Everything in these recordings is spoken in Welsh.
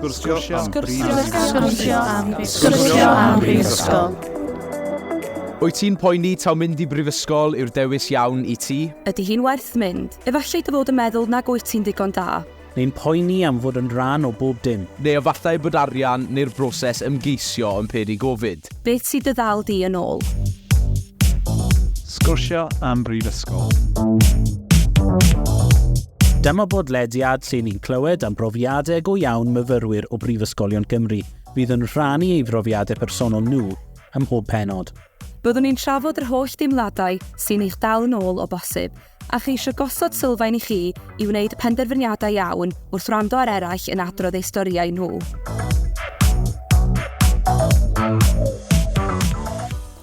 Sgwrsio am Sgwrsio am Sgwrsio am Brifysgol. Wyt ti'n poeni taw mynd i brifysgol yw'r dewis iawn i ti? Ydy hi'n werth mynd? Efallai dy fod yn meddwl nag wyt ti'n ddigon da. Neu'n poeni am fod yn rhan o bob dim. Neu efallai bod arian neu'r broses ymgeisio yn peri gofid. Beth sydd dy ddal di yn ôl? Sgwrsio am Brifysgol. Dyma bodlediad lle ni'n clywed am brofiadau go iawn myfyrwyr o Brifysgolion Cymru fydd yn rhannu ei brofiadau personol nhw ym mhob penod. Byddwn ni'n trafod yr holl deimladau sy'n eich dal yn ôl o bosib, A cheisio gosod sylfaen i chi i wneud penderfyniadau iawn wrth wrando ar eraill yn adrodd eu storïau nhw.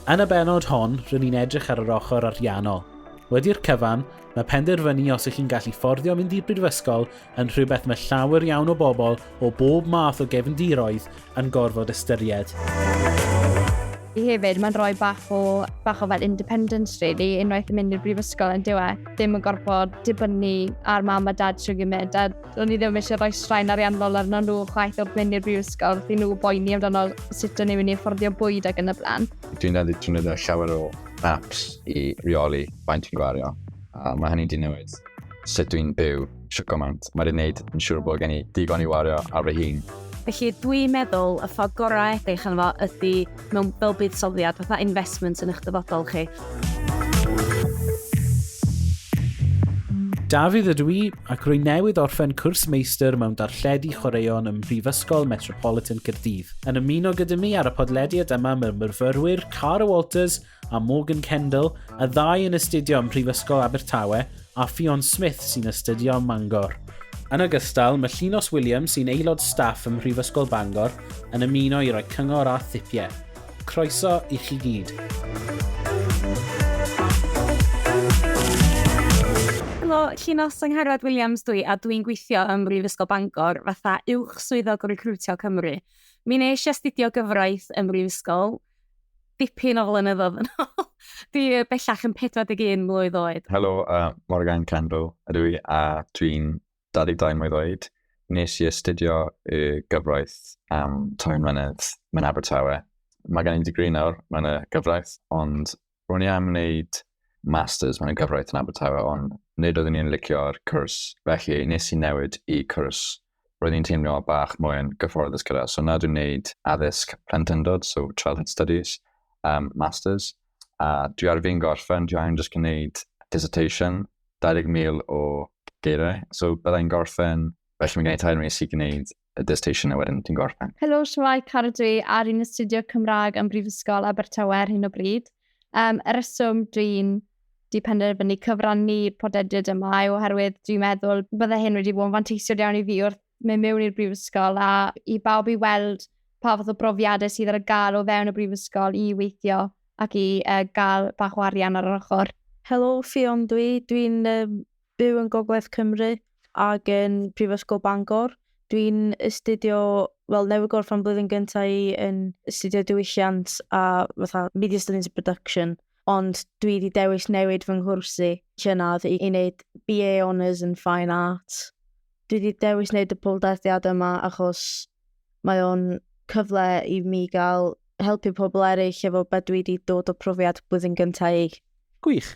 Yn y benod hon, rydyn ni'n edrych ar yr ochr ariannol. Wedi'r cyfan, mae penderfynu os ych chi'n gallu fforddio mynd i'r brifysgol yn rhywbeth mae llawer iawn o bobl o bob math o gefndiroedd yn gorfod ystyried. I hefyd, mae'n rhoi bach o, bach o fel independence, really, unwaith yn mynd i'r brifysgol yn diwe. Dim yn gorfod dibynnu ar mam a dad sy'n gymryd, a o'n i ddim eisiau rhoi straen ariannol arno nhw chwaith wrth mynd i'r brifysgol, fi nhw boeni amdano sut o'n i'n mynd i fforddio bwyd ag yn y blaen. Dwi'n dal i ddefnyddio llawer o apps i reoli faint fi'n gwario, a mae hynny'n di newid. sut dwi'n byw sio gymaint. Mae'n gwneud yn siŵr bod gen i digon i wario ar fy hun. Felly dwi'n meddwl y ffordd gorau edrych yn fo ydy mewn fel buddsoddiad, fatha investment yn eich dyfodol chi. Dafydd ydw i, ac rwy newydd orffen cwrs meistr mewn darlledu chwaraeon ym Mhrifysgol Metropolitan Caerdydd. Yn ymuno gyda mi ar y podlediad yma mae myrfyrwyr Cara Walters a Morgan Kendall, y ddau yn astudio ym Mhrifysgol Abertawe, a Ffion Smith sy'n astudio ym Mangor. Yn ogystal, mae Llinos Williams sy'n aelod staff ym Mhrifysgol Bangor yn ymuno i roi cyngor a thipiau. Croeso i chi gyd. Helo, Llinos Angharad Williams dwi a dwi'n gweithio ym Mhrifysgol Bangor fatha uwch swyddog o Recruitio Cymru. Mi nes i astudio gyfraith ym Mhrifysgol dipyn o flynyddoedd yn ôl. Dwi bellach yn 41 mlwydd oed. Helo, uh, Morgan Kendall ydw i a dwi'n 22 mlwydd oed. Nes i astudio y gyfraith am tair mlynedd mewn Abertawe. Mae gen i digri nawr mewn y gyfraith, ond Ro'n i am wneud masters mewn gyfraith yn Abertawe ond nid oeddwn i'n licio'r cwrs felly nes i newid i cwrs roedd i'n teimlo bach mwy yn gyfforddus gyda so nawr dwi'n wneud addysg plentyndod so childhood studies um, masters a dwi ar fin gorffen dwi angen jyst gwneud dissertation 20,000 o geiriau so byddai'n gorffen felly mae'n gwneud tair mis i gwneud y dissertation a wedyn ti'n gorffen. Helo, Siwai Caradwy ar un astudio Cymraeg ym Mhrifysgol Abertawe ar hyn o bryd. Um, y reswm dwi'n di penderfynu cyfrannu podediad yma yw oherwydd dwi'n meddwl bydde hyn wedi bod yn fanteisiol iawn i fi wrth mynd mewn i'r brifysgol a i bawb i weld pa fath o brofiadau sydd ar y gael o fewn y brifysgol i weithio ac i uh, gael bach o arian ar yr ochr. Helo, Ffion dwi. Dwi'n um, byw yn Gogledd Cymru ac yn Prifysgol Bangor. Dwi'n astudio, wel, newydd gorff am blwyddyn gyntaf i yn astudio diwylliant a fatha media studies and production, ond dwi wedi dewis newid fy nghwrs i llynedd i, i wneud BA Honours yn Fine Arts. Dwi wedi dewis wneud y podlediad yma achos mae o'n cyfle i mi gael helpu pobl eraill efo beth dwi wedi dod o profiad blwyddyn gyntaf i. Gwych.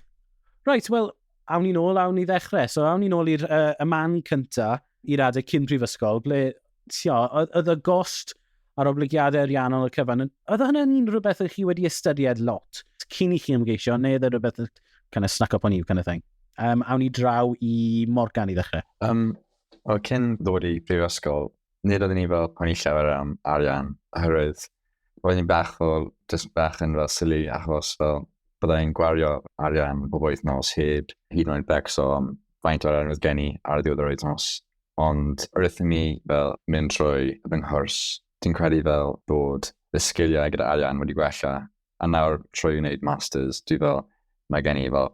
Reit, wel, awn ni'n ôl, awn ni ddechrau. So, awn ni'n ôl i'r uh, y man cynta, i'r adeg cyn prifysgol, ble, tio, oedd y gost a'r oblygiadau ariannol y cyfan, oedd hynny'n un rhywbeth ydych chi wedi ystyried lot cyn i chi ymgeisio, neu oedd e rhywbeth kind of snack up on you kind of thing? Um, awn ni draw i Morgan i ddechrau. Um, o, cyn ddod i brifysgol, Nid oeddwn i fel poeni llawer am arian, oherwydd roedd hi'n bach fel, just bach yn fel silly, achos fel byddai'n gwario arian bob wythnos heb hyd yn oed becso am faint o'r arian oedd gen i ar ddiwedd yr wythnos. Ond wrth i mi fel mynd trwy fy nghwrs, dwi'n credu fel bod fy sgiliau gyda arian wedi gwella, a nawr trwy wneud masters, dwi fel, mae gen i fel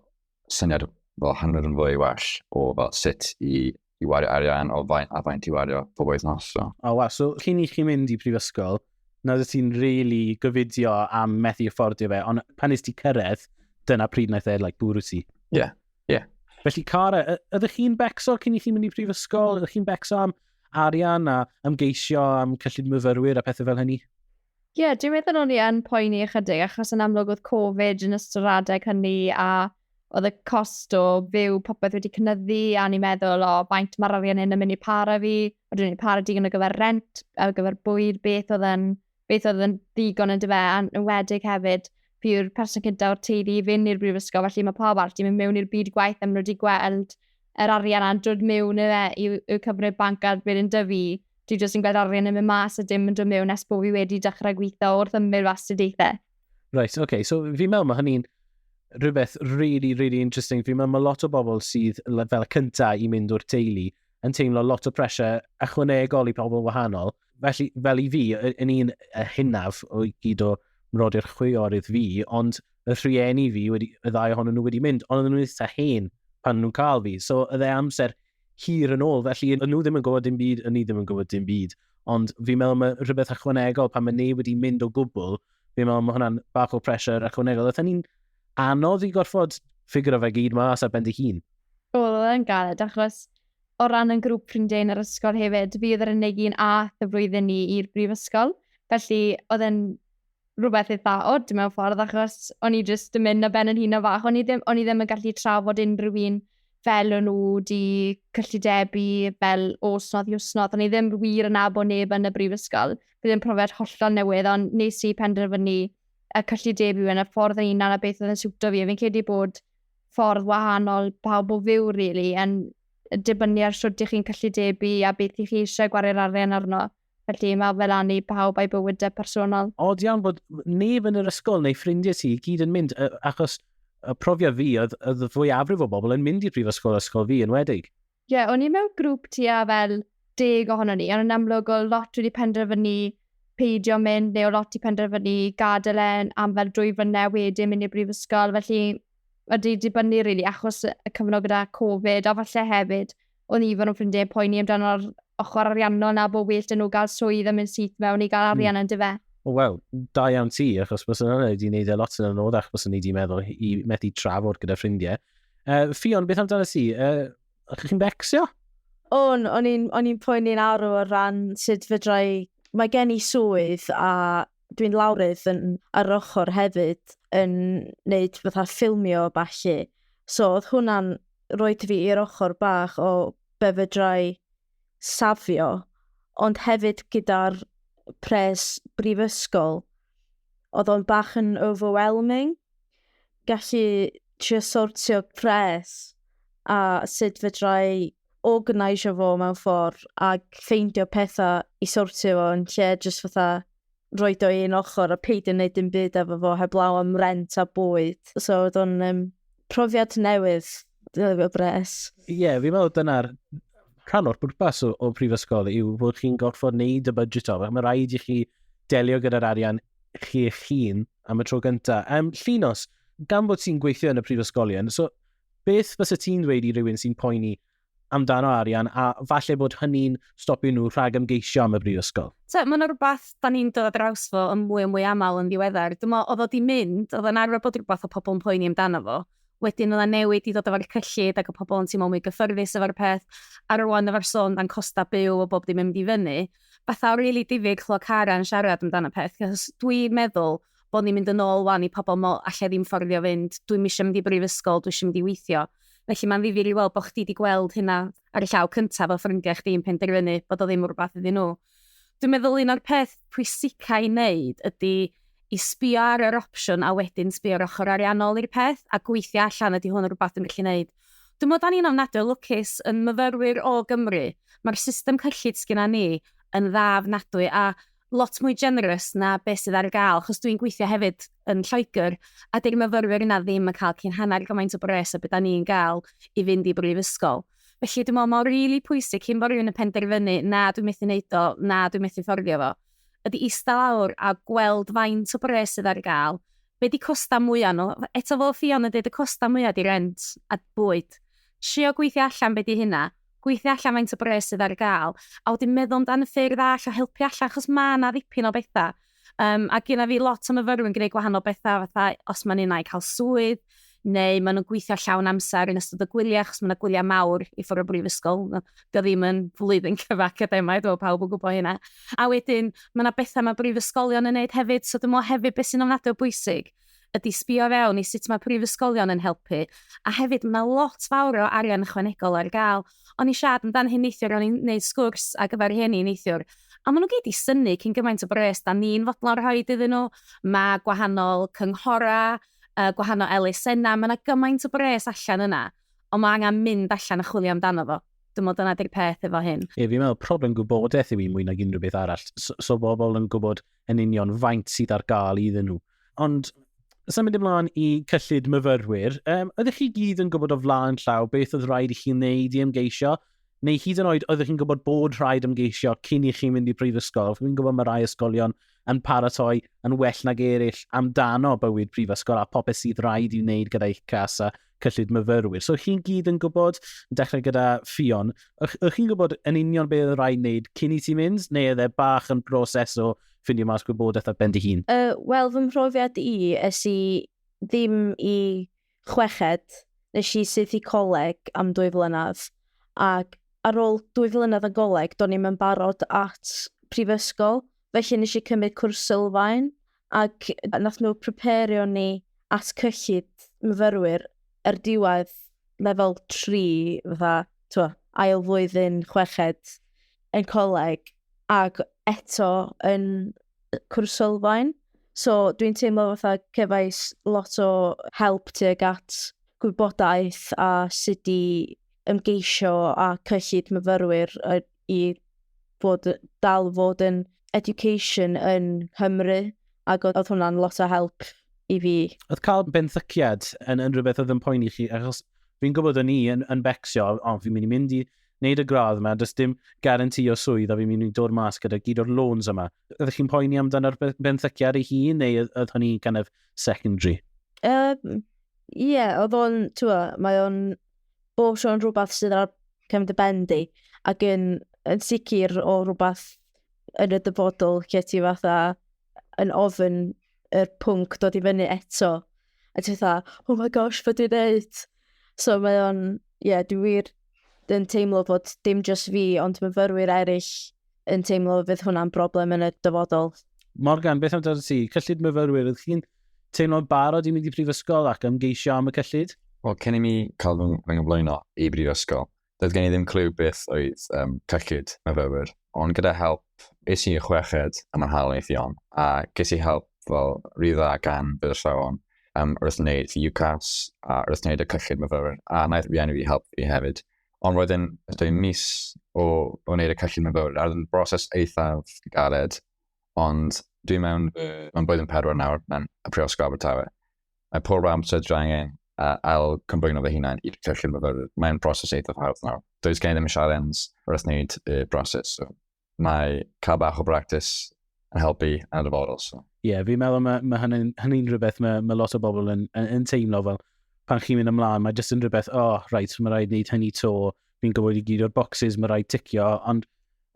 syniad fel hanner yn fwy well o fel sut i i wario arian o faint a faint i wario pob wythnos. So. O, oh, wow. So, cyn i chi mynd i prifysgol, na ddod ti'n really gyfidio am methu affordio fe, ond pan nes ti cyrraedd, dyna pryd naeth e, like, bwrw ti. Ie, yeah, ie. Yeah. Felly, Cara, ydych chi'n becso cyn i chi mynd i prifysgol? Ydych chi'n becso am arian a ymgeisio am cyllid myfyrwyr a pethau fel hynny? Ie, yeah, dwi'n meddwl o'n i yn poeni ychydig, achos yn amlwg oedd Covid yn ystod yr adeg hynny, a oedd y cost o fyw popeth wedi cynyddu, a ni'n meddwl, o, faint mae'r arian hyn yn mynd i para fi, a dwi'n ei para digon ar gyfer rent, ar gyfer bwyd, beth oedd yn, beth oedd yn ddigon yn dyfa, a'n enwedig hefyd, fi yw'r person cyntaf o'r teulu i fynd i'r brifysgol, felly mae pawb arall wedi mynd mewn i'r byd gwaith, a maen nhw wedi gweld yr arian a'n dod mewn i, e, i'w cyfrif banc ar byr yn dyfu, Dwi jyst yn gweld arian yn mynd mas a dim yn dod mewn nes bod fi wedi dechrau gweithio wrth ymwneud fy astudiaethau. Right, oce. Okay. So fi'n meddwl mae hynny'n rhywbeth really, really interesting. Fi'n meddwl mae lot o bobl sydd fel y cyntaf i mynd o'r teulu yn teimlo lot o pressure ychwanegol i pobl wahanol. Felly, fel i fi, yn un hynaf o gyd o mrodi'r chwiorydd fi, ond y rhieni fi, wedi, y ddau ohonyn nhw wedi mynd, ond oedden nhw'n eitha hen pan nhw'n cael fi. So, y dde amser hir yn ôl, felly yn nhw ddim yn gwybod dim byd, yn ni ddim yn gwybod dim byd. Ond fi'n meddwl mae rhywbeth ychwanegol pan mae neb wedi mynd o gwbl, fi'n meddwl mae hwnna'n bach o pressure ychwanegol. Oedd hynny'n anodd i gorfod ffigur o fe gyd mas ar ben dy hun? Wel, oedd e'n galed, achos o ran yn grŵp ffrindiau yn yr ysgol hefyd, fi oedd yr unig un ath y flwyddyn ni i'r brifysgol. Felly, oedd e'n rhywbeth eitha od mewn ffordd, achos o'n i jyst yn mynd na ben yn hun o fach. O'n i ddim, o'n i ddim yn gallu trafod unrhyw un fel o'n nhw di cyllidebu fel osnodd i osnodd. O'n i ddim wir yn abo neb yn y brifysgol. Bydd yn profiad hollol newydd, ond nes i penderfynu y cyllidebu yn y ffordd yn unan a beth oedd yn siwto fi. Fi'n credu bod ffordd wahanol pawb o fyw, really, yn dibynnu ar sut ych chi'n cyllidebu a beth ych chi eisiau gwario arian arno. Felly mae fel an i pawb a'i bywydau personol. Od iawn bod neb yn yr ysgol neu ffrindiau ti i gyd yn mynd, achos y profiad fi oedd, oedd fwyafrif o bobl yn mynd i'r brifysgol ysgol fi yn wedig. Ie, yeah, o'n i mewn grŵp ti a fel deg ohono ni, ond yn amlwg o lot wedi penderfynu peidio mynd, neu o lot i penderfynu gadael e am fel drwy fynnau wedyn mynd i'r brifysgol, felly wedi dibynnu rili really, achos y cyfnod gyda Covid, a falle hefyd o'n i fan o'n ffrindiau yn poeni amdano'r ochr ariannol na bod well dyn nhw gael swydd a mynd syth mewn i gael hmm. arian mm. yn dyfe. O, wel, da iawn ti, achos bys yna wedi gwneud e lot yn anoddach bys yna wedi meddwl i methu trafod gyda ffrindiau. Uh, Fion, beth amdano ti? Uh, ydych chi'n becsio? O'n, o'n i'n poeni'n arw o ran sut fydrai... Mae gen i swydd a dwi'n lawrydd yn, ar ochr hefyd yn wneud fatha ffilmio o falle. So oedd hwnna'n roed fi i'r ochr bach o be fedrai safio, ond hefyd gyda'r pres brifysgol, oedd o'n bach yn overwhelming, gallu trio sortio pres a sut fedrai organisio fo mewn ffordd ac ffeindio pethau i sortio fo yn lle jyst fatha roed o i un ochr a peidio wneud dim byd efo fo heblaw am rent a bwyd. So oedd o'n um, profiad newydd, dwi efo bres. Ie, yeah, fi'n meddwl dyna'r rhan o'r bwrpas o, o prifysgol yw bod chi'n gorfod wneud y budget o. Mae rhaid i chi delio gyda'r arian chi eich hun am y tro gyntaf. Um, llinos, gan bod ti'n gweithio yn y prifysgolion, so beth fysa ti'n dweud i rywun sy'n poeni amdano arian a falle bod hynny'n stopio nhw rhag ymgeisio am y brifysgol. So, mae'n rhywbeth da ni'n dod draws fo yn mwy o mwy aml yn ddiweddar. Dwi'n meddwl, oedd o di mynd, oedd o'n arfer bod rhywbeth o pobl yn poeni amdano fo. Wedyn oedd o'n newid i ddod efo'r cyllid ac y pobl yn teimlo mwy gyffyrddus efo'r peth. A rwan efo'r sôn dan costa byw o bob dim yn mynd i fyny. Fatha o rili really difyr chlywed Cara yn siarad amdano peth. Dwi'n meddwl, bod ni'n mynd yn ôl 'wan i pobl meddwl 'alla i ddim fforddio fynd, dwi'm isio mynd i brifysgol, dwi isio mynd i weithio. Felly mae'n ddifyr i weld bod chdi 'di gweld hynna ar y llaw cyntaf fel ffrindiau chdi yn penderfynu bod o ddim yn rhywbeth iddyn nhw. Dwi'n meddwl un o'r peth pwysicau i wneud ydy i sbio ar yr opsiwn a wedyn sbio ar ochr ariannol i'r peth a gweithio allan ydy hwn yn rhywbeth dwi'n gallu wneud. Dwi'n meddwl da ni'n ofnadwy o lwcus yn myfyrwyr o Gymru. Mae'r system cyllid sgynna ni yn dda ofnadwy a lot mwy generous na beth sydd ar gael, achos dwi'n gweithio hefyd yn Lloegr, a dy'r myfyrwyr yna ddim yn cael cyn hanner gymaint o bres a beth da ni'n gael i fynd i brifysgol. Felly dwi'n meddwl mae'n rili really pwysig cyn bod rhywun yn penderfynu na dwi'n methu wneud o, na dwi'n methu fforddio fo, ydy eista lawr a gweld faint o bres sydd ar gael, be di costa mwyaf nhw, eto fel ffion yn dweud y costa mwyaf di rent a bwyd. Trio gweithio allan be di hynna, gweithio allan faint o bres sydd ar gael, a wedyn meddwl amdano ffyrdd all o helpu allan, achos mae yna ddipyn o bethau. Um, a gyda fi lot o myfyrwyr yn gwneud gwahanol bethau, fatha os mae'n unau cael swydd, neu maen nhw'n gweithio llawn amser yn ystod y gwyliau, achos mae yna gwyliau mawr i ffwrdd o brifysgol. Dio ddim yn flwyddyn cyfa academaidd, fel pawb yn gwybod hynna. A wedyn, mae yna bethau mae brifysgolion yn neud hefyd, so dwi'n meddwl hefyd beth sy'n ofnadwy o bwysig ydy sbio fewn i sut mae prifysgolion yn helpu, a hefyd mae lot fawr o arian ychwanegol ar gael. O'n i siarad amdano hyn neithiwr, o'n i'n gwneud sgwrs ar gyfer rhieni neithiwr, a maen nhw gyd i syni cyn gymaint o bres da ni'n fodlon rhoi iddyn nhw. Mae gwahanol cynghorau, uh, gwahanol elusennau, mae yna gymaint o bres allan yna, ond mae angen mynd allan a chwilio amdano fo. Dwi'n meddwl dyna di'r peth efo hyn. Ie, fi'n meddwl problem gwybodaeth yw i mwy nag unrhyw beth arall. So, so bobl yn gwybod yn union faint sydd ar gael iddyn nhw. Ond symud ymlaen i cyllid myfyrwyr, um, ydych chi gyd yn gwybod o flaen llaw beth oedd rhaid i chi wneud i ymgeisio? Neu hyd yn oed ydych chi'n gwybod bod rhaid ymgeisio cyn i chi'n mynd i prifysgol? Fi'n gwybod mae rhai ysgolion yn paratoi yn well nag eraill amdano bywyd prifysgol a popeth sydd rhaid i wneud gyda'i cas a cyllid myfyrwyr. So chi'n gyd yn gwybod, yn dechrau gyda Fion, ych, ych chi'n gwybod yn union beth oedd rhaid wneud cyn i ti mynd, neu oedd e bach yn broses o ffindio mas gwybodaeth ar ben dy hun? Uh, Wel, fy mhrofiad i, es i ddim i chweched, nes i syth i coleg am dwy flynedd, ac ar ôl dwy flynedd yn goleg, do'n i'm yn barod at prifysgol, felly nes i cymryd cwrs sylfaen, Ac nath nhw preperio ni at cyllid myfyrwyr ar diwedd lefel tri, fatha, t'mo', ail flwyddyn chweched yn coleg, ac eto yn cwrs sylfaen. So dwi'n teimlo fatha cefais lot o help tuag at gwybodaeth a sut i ymgeisio â cyllid myfyrwyr i fod, dal fod yn education yn Nghymru, ac oedd hwnna'n lot o help i fi. Oedd cael benthyciad yn, yn rhywbeth oedd yn poeni chi, achos fi'n gwybod o'n i yn, yn becsio, o, oh, fi'n mynd i mynd i wneud y gradd yma, does dim garanti o swydd a fi'n mynd i dod mas gyda gyd o'r loans yma. Ydych chi'n poeni amdano'r benthyciad ei hun neu oedd hynny kind of secondary? Ie, um, yeah, oedd o'n, ti'n mae o'n bob tro yn rhywbeth sydd ar cefn dy ben di, ac yn, yn sicr o rhywbeth yn y dyfodol lle ti fatha yn ofyn y pwnc dod i fyny eto. A ti fatha, oh my gosh, fe dwi'n neud? So mae o'n, ie, yeah, dwi wir yn teimlo bod dim just fi, ond myfyrwyr eraill yn teimlo fydd hwnna'n broblem yn y dyfodol. Morgan, beth amdano ti? Cyllid myfyrwyr, ydych chi'n teimlo'n barod i mynd i brifysgol ac ymgeisio am y cyllid? Wel, cyn i mi cael fy nghyflwyno i brifysgol, doedd gen i ddim clyw beth oedd um, cyllid myfyrwyr. Ond gyda help, es i chweched am yn hael eithion, a ges i help fel rhy dda gan bydd y llawn um, wrth wneud UCAS a wrth wneud y cyllid myfyrwyr, a wnaeth rieni fi help fi hefyd. Ond roedd e'n dwy mis o wneud y cyllid mewn fawr. Roedd yn broses eithaf galed, ond dwi mewn mewn blwyddyn pedwar nawr mewn y Prifysgol Abertawe. Mae pob amser dwi angen a ail cymbwyno fy hunain i'r cyllid myfyrwyr. Mae'n broses eithaf hawdd nawr. Does gen i ddim sialens wrth wneud y broses. So. mae cael bach o bractis yn helpu yn y dyfodol. So. Ie, yeah, fi'n meddwl mae, mae hynny'n hynny rhywbeth mae, mae lot o bobl yn, yn, yn teimlo fel pan chi'n mynd ymlaen, mae jyst yn rhywbeth, o, oh, rhaid, so mae rhaid wneud hynny to, fi'n gwybod i gyd o'r boxes, mae rhaid ticio, ond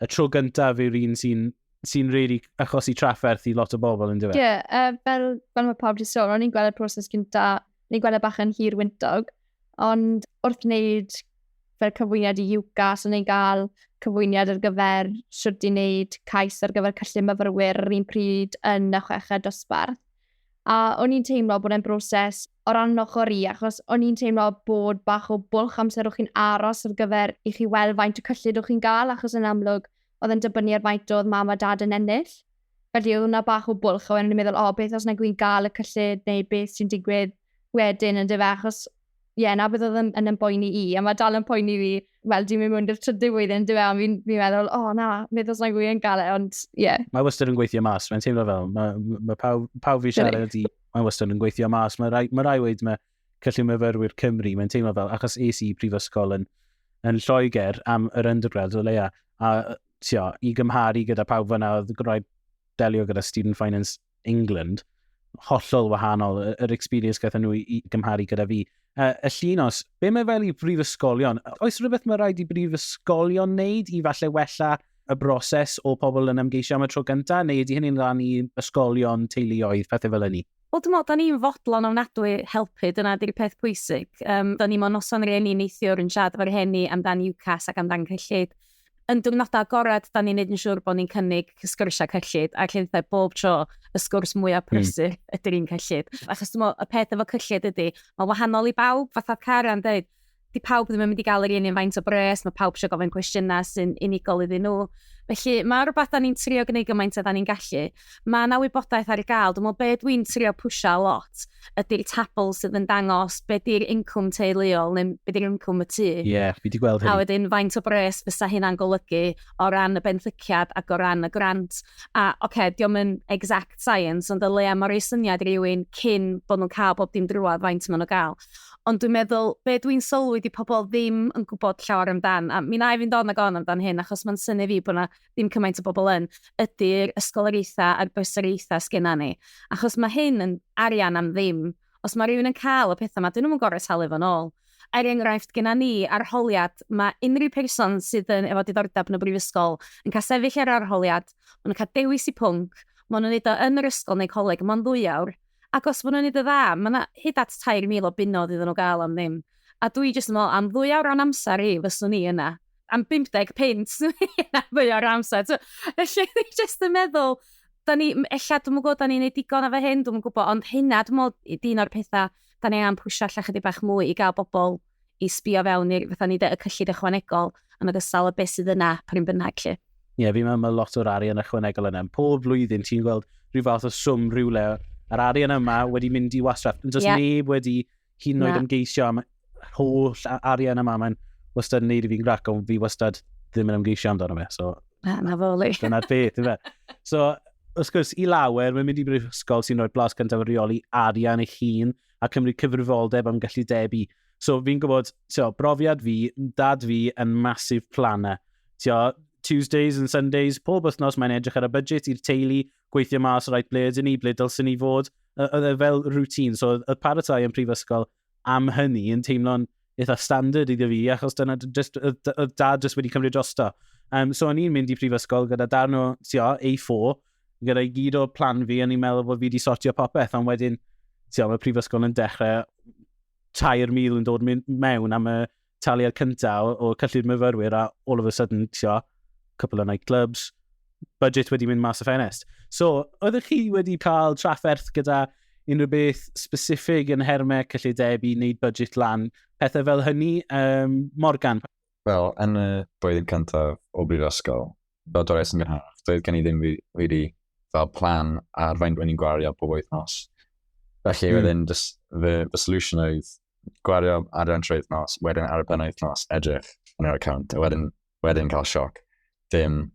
y tro gyntaf yw'r un sy'n sy really achosi trafferth i lot o bobl yn dweud. Ie, yeah, uh, fel, fel mae pawb wedi sôn, o'n i'n gweld y proses gyntaf, ni'n gweld y e bach yn hir wyntog, Ond wrth wneud fel cyfwyniad i UCAS, o'n i'n cael cyfwyniad ar gyfer sut i wneud cais ar gyfer cyllid myfyrwyr yr un pryd yn y chweched dosbarth. A o'n i'n teimlo bod e'n broses o ran ochr i, achos o'n i'n teimlo bod bach o bwlch amser o'ch chi'n aros ar gyfer i chi weld faint o cyllid o'ch chi'n gael, achos yn amlwg oedd yn dibynnu ar faint oedd mam a dad yn ennill. Felly oedd hwnna bach o bwlch, a wedyn o'n i'n meddwl, o, oh, beth os nag wy'n gael y cyllid, neu beth sy'n digwydd wedyn yn dyfa, achos ie, yeah, na beth oedd yn, yn ymboeni i, a mae dal yn poeni fi, wel, dwi'n mynd mwyn i'r trydydd flwyddyn yn dyfa, ond fi'n fi meddwl, o oh, na, beth os nag wy'n gael e, ond ie. Yeah. Mae wastad yn gweithio mas, mae'n teimlo fel, mae, mae pawb, pawb fi siarad i, mae wastad yn gweithio mas, mae rai, mae rai wedi, mae Cyllid Myfyrwyr Cymru, mae'n teimlo fel, achos es i brifysgol yn, yn Lloegr am yr undergrad o leia, a tio, i gymharu gyda pawb fyna oedd gwneud delio gyda Student Finance England, hollol wahanol, yr experience gyda nhw i gymharu gyda fi. Uh, y llun os, be mae fel i brifysgolion? Oes rhywbeth mae rhaid i brifysgolion wneud i falle wella y broses o pobl yn ymgeisio am y tro gyntaf, neu ydy hynny'n rhan i ysgolion, teuluoedd, pethau fel hynny? Wel dwi'n meddwl, da ni'n fodlon ofnadwy helpu, dyna di'r peth pwysig. Um, da ni mewn noson rhieni neithiwr yn siarad efo'r rhieni amdan UCAS ac amdan cyllid. Yn diwrnodau agored, da ni'n neud yn siŵr bod ni'n cynnig sgwrsiau cyllid, a lle ddau bob tro y sgwrs mwyaf hmm. prysur mm. ydy'r un cyllid. Achos dwi'n meddwl, y peth efo cyllid ydy, mae wahanol i bawb, fatha Karen dweud, di pawb ddim yn mynd i gael yr un un faint o bres, mae pawb eisiau gofyn cwestiynau sy'n unigol iddyn nhw. Felly mae rhywbeth da ni'n trio gwneud gymaint a da ni'n gallu. Mae yna wybodaeth ar gael. Dwi'n meddwl be dwi'n trio pwysio lot ydy'r tabl sydd yn dangos be di'r incwm teuluol neu be di'r incwm y tu. Ie, yeah, fi wedi gweld hyn. A wedyn faint o bres fysa hynna'n golygu o ran y benthyciad ac o ran y grant. A oce, okay, diolch yn exact science, ond y le am o'r ei syniad rhywun cyn bod nhw'n cael bob dim drwad faint maen nhw'n gael. Ond dwi'n meddwl, be dwi'n sylwi di pobl ddim yn gwybod llawer amdan, a mi na i fynd on ag on amdan hyn, achos mae'n syni fi bod yna ddim cymaint o bobl yn, ydy'r ysgoloriaethau a'r bysoriaethau sgynna ni. Achos mae hyn yn arian am ddim. Os mae rhywun yn cael y pethau yma, dyn nhw'n gorau talu fo'n ôl. Er enghraifft, gyda ni, arholiad, mae unrhyw person sydd yn efo diddordeb yn y brifysgol yn cael sefyll ar arholiad, maen nhw'n cael dewis i pwnc, maen nhw'n neud o yn yr ysgol neu coleg, mae'n ddwy awr, Ac os maen nhw'n wneud yn dda, mae yna hyd at 3,000 o bunnoedd iddyn nhw gael am ddim. A dwi jyst yn meddwl, am ddwy awr o'n amser i, fyswn i yna. Am 50 punt, fyswn i yna ddwy awr o'n amser. So, felly, dwi jyst yn meddwl, da ni, ella, dwi'n gwybod, da ni'n gwneud digon efo hyn, dwi'n gwybod, ond hynna, dwi'n meddwl, i dyn o'r pethau, da ni angen pwysio allan chydig bach mwy i gael bobl i sbio fewn i'r fatha ni y cyllid ychwanegol yn ogystal â beth sydd yna pryn bynnag lle. Ie, yeah, fi'n meddwl mae lot o'r arian ychwanegol yna. Pob flwyddyn ti'n gweld rhyw fath o swm rhywle. Yr arian yma wedi mynd i wasraff. Does yeah. neb wedi hyn yn oed ymgeisio am holl arian yma. Mae'n wastad yn neud i fi'n grac, ond fi wastad ddim yn ymgeisio amdano fe. So, na, na fo, li. Dyna'r peth, yma. So, wrth gwrs, i lawer, mae'n mynd i brifysgol sy'n rhoi blas cyntaf o reoli arian eich hun. a cymryd cyfrifoldeb am gallu debu. So fi'n gwybod, tio, brofiad fi, dad fi yn masif planner. Tio, Tuesdays and Sundays, pob wythnos mae'n edrych ar y budget i'r teulu, gweithio mas rhaid ble ydyn ni, ble dylsyn ni fod, oedd e fel routine. So oedd paratoi yn prifysgol am hynny yn teimlo'n eitha standard iddo fi, achos dyna, just, oedd dad jyst wedi cymryd drosto. Um, so o'n i'n mynd i prifysgol gyda darn o, tio, A4, gyda i gyd o plan fi, o'n i'n meddwl bod fi wedi sortio popeth, ond wedyn, tio, mae prifysgol yn dechrau 3,000 yn dod mewn am y taliad cyntaf o, o cyllid myfyrwyr a all of a sudden, tio, couple of nightclubs, budget wedi mynd mas o ffenest. So, oeddech chi wedi cael trafferth gyda unrhyw beth specifig yn hermau cyllideb i wneud budget lan, pethau fel hynny, um, Morgan? Wel, yn y blwyddyn cyntaf o brifysgol, fel dores yn gynharach, doedd gen i ddim wedi fel plan ar faint o'n i'n gwario pob wythnos. Felly, mm. wedyn, fy, fy solution oedd gwario ar yr trwy wythnos, wedyn ar y pen wythnos, edrych yn yr account, a wedyn wedyn cael sioc, dim